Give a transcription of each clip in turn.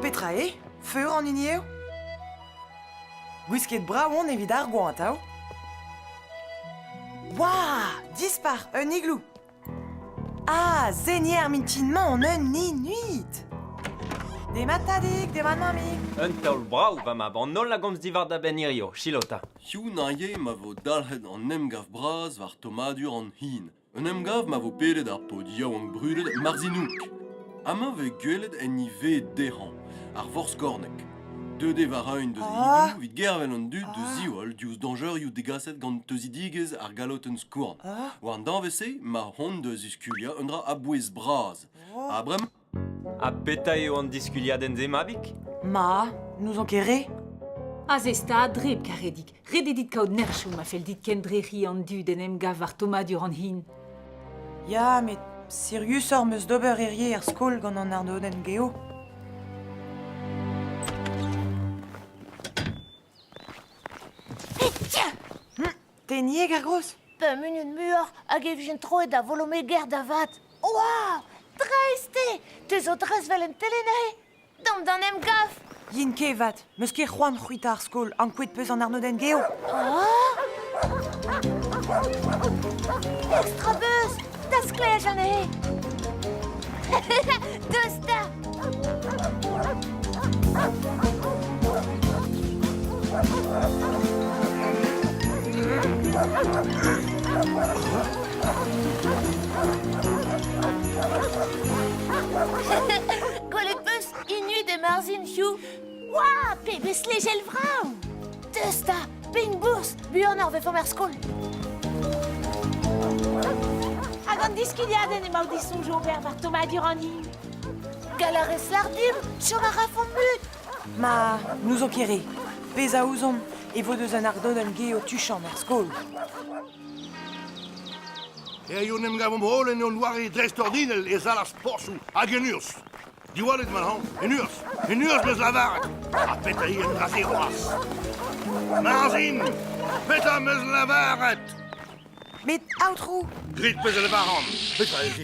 petra eo? Feur an hini eo? Gwisket brav on evit ar goant, hao? Wah! Dispar, un igloo! Ah, senier ar mintin-mañ on eun inuit! Demat, Tadig, demat, mammig! Un taol brav, va mab, an holl a gomz diwar da benn hirio. Silot ta. Hiziv naje ma vo dalc'het an emgav bras war tommadur an hin. Un emgav ma vo pedet ar paotr yaouank brudet Marzinouk. Amañ 'vez gwelet enni ved dezhañ, ar vorskorneg. Deuet eo war-eeun deus e hini evit gervel an dud da ziwall diouzh dañjerioù degaset gant teuzidigezh ar galotenn-skourn. War an danvez-se emañ hon da ziskuliañ un dra a-bouez-bras. Ha bremañ... Ha petra eo an diskuliadenn-se, mabig? Ma, n'ouzon ket re. Aze stad red, Karedig. Ret eo dit kaout nerchoù ma fell dit kendrec'hiñ an dud en em gav war tommadur an hin. Ya, met siriusoc'h 'm eus d'ober hirie er skol gant an arnodenn geo. Tenieg ar gozh? Pemp munut muioc'h hag e vijent troet da volomeger da vat. Oa! Dreist eo! Te zo dreist 'vel un telenay! Damp d'an emgav! Yin kevat, 'meus ket c'hoant c'hwitañ ar skol, ankouaet 'peus an arnodenn geo. Oh! Petra 'beus? Da sklaej anezhe! Deus da! Gwelet 'peus Inud e Marzhin, Hugh? Oa, pebezh lejel vrav! Deus da, pein-bourzh, buan ar vefaomp er skol. Hag an diskiliadenn emaout disoñj ober war Thomas Durani? Galarez lardimp, chom a rafomp mut! Ma, n'ouzon ket re. Pezh a ouzon e vo deus un ardodenn ge o tuchant er skol. Hiziv 'n em gavomp holl en hon doare dreistordinel e sal ar sportoù hag en urzh. Diwallit ma hañv, en urzh, en urzh m'eus lavaret. Ha petra eo an dra-se c'hoazh? Marzhin, petra 'm eus lavaret? Met, aotrou... Grit pezh a lavaran. Petra ez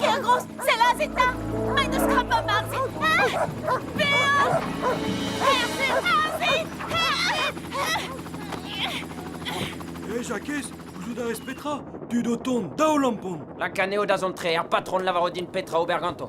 Kergros, sellazit 'ta! M'en deus krapet marse! Bean! Herze, herze! Herze! Hé, Jakez, gouzout a rez petra? Tud o tont, daol ampon! Lakan eo da zont tre, ar patron lavaro din petra ober ganto.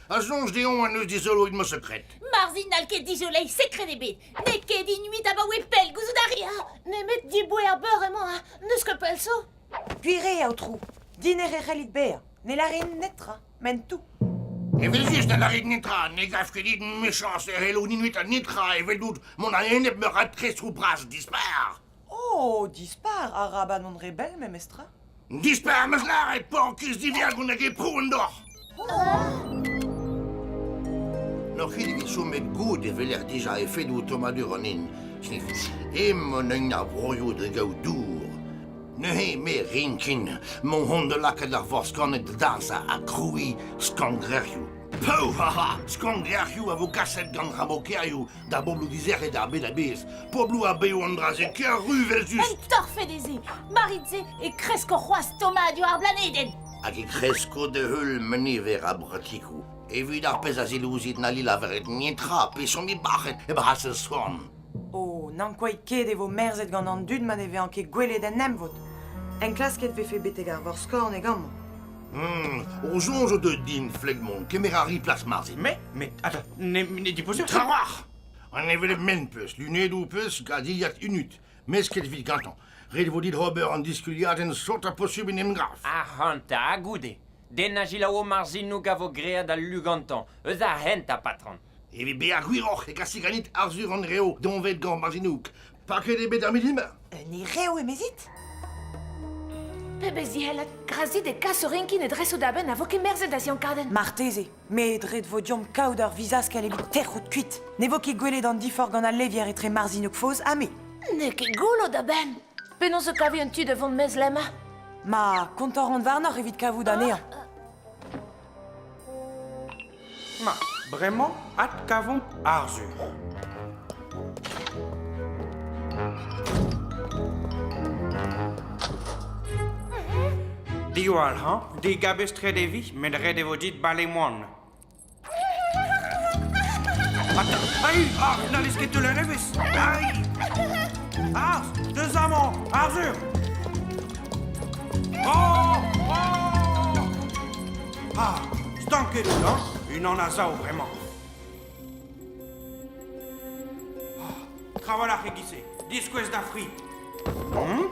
A soñj deomp en deus dizoloet ma sekred. Marzhin n'hall ket dizoleiñ sekred ebet. N'eo ket inuit abaoe pell gouzout a ri, ha nemet diboe ar beur emañ, ha n'eus ket pell zo. Pire, aotrou, diner e c'hellit bezañ. Ne larin netra, m'en tou. Evel-just ne larit netra, ne gav ket dit mechañs e c'hellout inuit an netra eveldout mont a-enep meur a trestroù bras dispar. Oh, dispar, araban on re bell memestra. Dispar am eus lâret, porkiz diviagon hag e prouan doc'h. N'oc'h ket evit chomet goud e veler dija efedoù tommadur an in. Ce n'est em an un ar broioù da gaout dour. Neuze me rinkin, mon hond de lakaat ar vor skannet da dansa ha krouiñ skangrerioù. Pou, haha, skangrerioù a vo kaset gant rabokerioù Da bobloù dizec'het ar bed a-bezh, pobloù ha bev an dra-se ker ru eveljust! Un torfed eo se! Marit-se e kresko c'hoazh tommadur ar blanedenn! Hag e kresko da-heul meniver ar bratikoù. Evit ar pezh a zilouzit na laveret netra peseurt bac'het e brasez soan. O, n'ankouait ket e vo merzet gant an dud ma ne vezañ ket gwelet en emvod! Enklasket 'vefe betek ar Vor-Skorneg amañ. O soñj o deus din, Flegmont, kemer a ri plas marse. Met, met, ata, ne, ne dipozer ket. Trawalc'h! An hevelep ment peus, lunedoù peus, gazilhad unut. Mesket evit gantañ. Ret vo dit ober an diskuliadenn sot ha posubl en em gav. Ac'hanta, goude. Den a gilaou o marzinoug a vo graet al lu gantañ. Eus ar hent, ha patron. Evit bezañ gwiroc'h e kasi ganit Arzhur an Rev doñvet gant Marzinoug. Paket eo bet ar milima? Un erev, emezit? Pebezh zihellat, grazit e kas o renkin e dresoù da benn a vo kemerzet da ziankadenn. Marteze, met ret vo deomp kaout ur vizaskell evit tec'hout kuit. Ne vo ket gwelet an diforc'h gant al levier etre Marzinokfoz ha me. N'eo ket goullo da benn. Penaos e kavi un tu da vont mezlemm? Ma, kontañ ran warnoc'h evit kavout anezhañ. Ma, bremañ adkavomp Arzhur. Diwall hañ, digabestret e vi, met ret e vo dit bale moan. Ai, ar, n'hallez ket teuler evezh. Ai! Arz, deus amañ, Arzhur! Oh! Oh! Ah, stanket out-hañ, unan a sav bremañ. Ah, trawalc'h e-giz-se, diskouez da fri. Hum?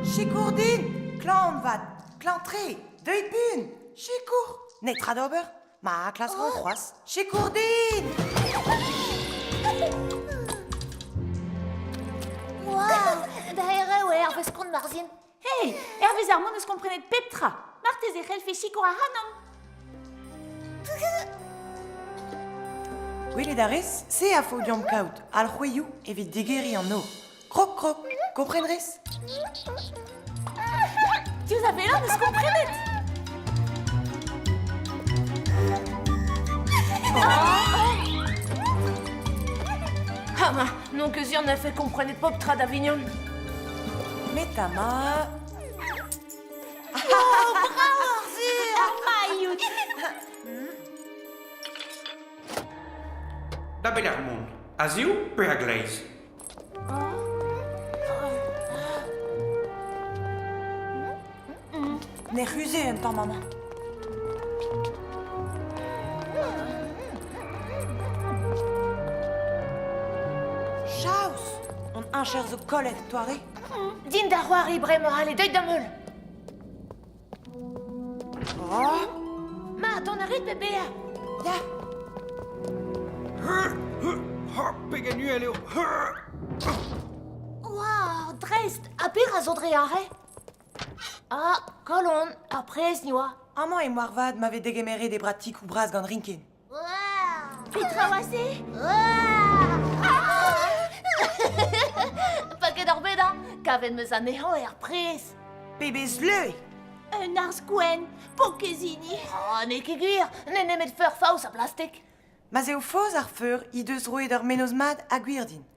Sikour din! Klañv on vat, klañv-tre, deuit buan! Sikour! Netra d'ober? Ma klask c'hoazh sikour din! da erev eo hervez kont Marzien. Hei, hervez ar mont eus komprenet pep tra. Marteze e c'hellfe sikour ac'hanomp. Gwelet a rez, se a faot deomp kaout alc'houeioù evit digeriñ an o. Krog, krog, kompren rez? Diouzh a bellañ n'eus komprenet! Ha ma, non que Zion a fait comprener Poptra d'Avignon. Mais ta ma... Da bet ar mont. A ziv pe a gleiz? Ne c'huzhe un tamm amañ. Chaos Hon heñcher zo kollet, Toare. Din da c'hoari bremañ, allez, deuit d'am heul. Oh Ma, dont a rit pe bezañ? Ya Pegen uhel eo Oa, dreist, ha petra zo dre aze? Ah, kalon, ar prez, ni oa. Amañ eo moarvat ma vez degemeret e bratikoù bras gant Rinkin. Petra oa se? Paket ar bed a, kavet meus anezhañ er pres. Pebezh leu! Un arz gwenn, pokezini. Oh, n'eo ket gwir, n'eo nemet feur faos a blastek. Ma z'eo faos ar feur he deus roet ur menoz mat a gwir din.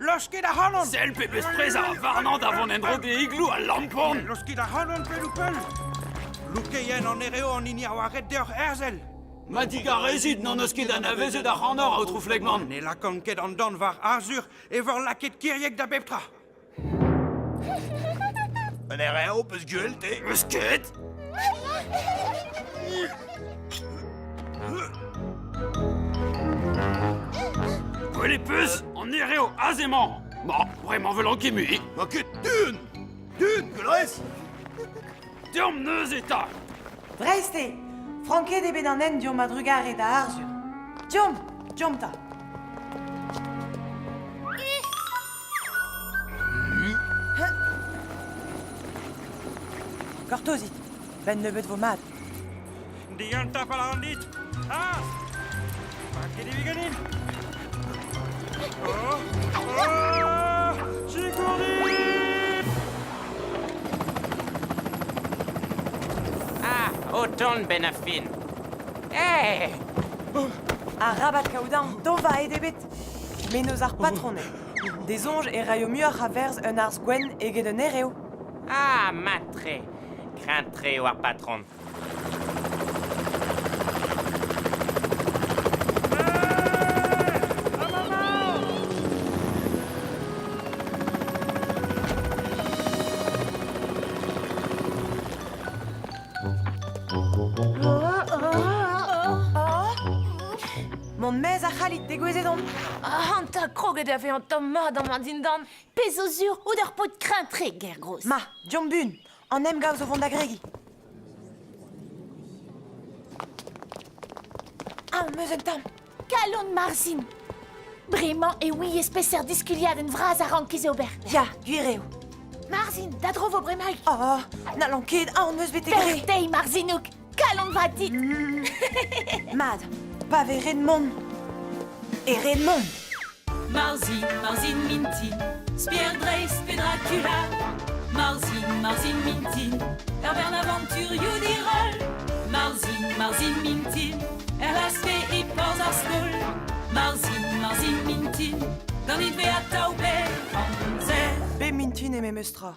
Laskit ac'hanon Sell pebezh prezañ warnañ da vont en-dro d'e igloù al lampon Laskit ac'hanon pell-ou-pell Loukeien an ere an hini a oa ret deoc'h herzel Ma digarezit n'an eus ket anavezet ac'hanoc'h, aotrou Flegman Ne lakan ket an dan war Arzur e vor lakit kiriek da bep tra Un ere ho peus gwell te Eus ket Gwell e peus an ere aze emañ Ma, bremañ 'vel an gemi Ma ket dun Dun, Velrez Deomp neuze 'ta Dreist eo Franket eo bet an hent deomp a-drugarez da Arzhur Deomp, deomp 'ta Gortozit, benn nebeut vo mat. Digan tapal an dit Ah Pa ket evit ganin Oh Oh Sikour dit Ah O ton ben a fin Eh Arabat kaout an, dova eo ebet Menoz ar patroned. D'e soñj e raio muioc'h a werzh un arz gwenn eget un erev. Ah, mat-tre. Kreñv-tre eo ar patron. Mon mez a c'hallit degouezhet on. Ah, an ta kroget a vezañ tamm mat amañ dindan. Pezh zo sur out ar paotr kreñv-tre, ger-gros. Ma, Diombun, an emgav zo vont da gregiñ. Ah, meus un tamm. Kalon Marzhin. Bremañ e ouiez peseurt diskuliadenn vras a rankiz ober. Ya, gwir eo. Marzhin, da dro vo bremaik. Oh, n'hallan ket, ah, on meus bet gré. Bertei, Marzhinouk. Kalon va dit Mad, pa vez red mont E red mont Marzin, Marzin mintin Spier dreist pe Dracula Marzin, Marzin mintin Tavern aventurioù diroll Marzin, Marzin mintin LSP e porzh ar skol Marzin, Marzin mintin Ganit be atav bel amzer Be mintin eo memes tra